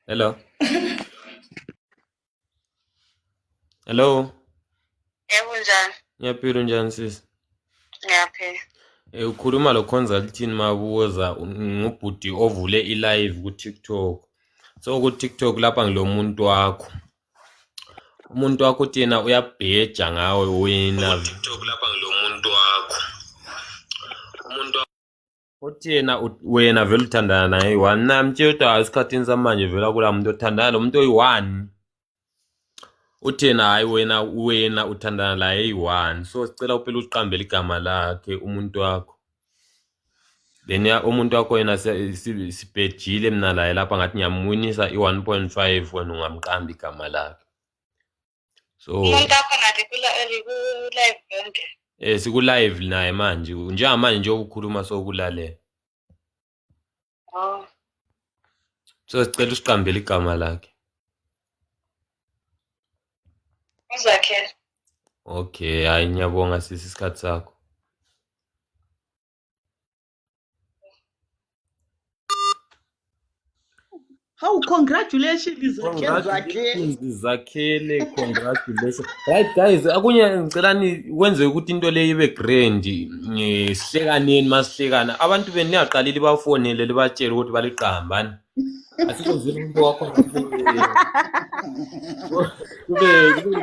Hello. Hello. Yebo njani? Ngiyaphila unjani sisi? Ngiyaphila. Eh ukhuluma lo consulting mabuza ngubhuti ovule i-live ku-TikTok. So ku-TikTok lapha ngilomuntu wakho. umuntu wakho uthi yena uyabheja ngawe wena tiktok lapha ngilomuntu wakho umuntu uthi yena wena vele uthandana naye one namtshela ukuthi hayi esikhathini samanje vela kula muntu othandana lo muntu oyi-one uthena hayi wena wena uthandana laye eyi-one so sicela uphela uqambele igama lakhe umuntu wakho then umuntu wakho yena sibhejile mina laye lapha ngathi ngiyamwinisa i-one point five wena ungamqambi igama lakhe so um sikulayive naye manje njengamanje nje okukhuluma sokulalela Oh. So sicela usiqambele igama lakhe. Uzakhe. Okay, hayi ngiyabonga sisi isikhathi sakho. Hawu congratulations zakhele zakhele. zakhele congratulations right guys akunye ngicela nikwenze ukuthi into leyo ibe grand eh, sihlekaneni masihlekana abantu benu niyaqalile bafonele libatshele ukuthi baliqambani asikwenzile umuntu wakho kube kube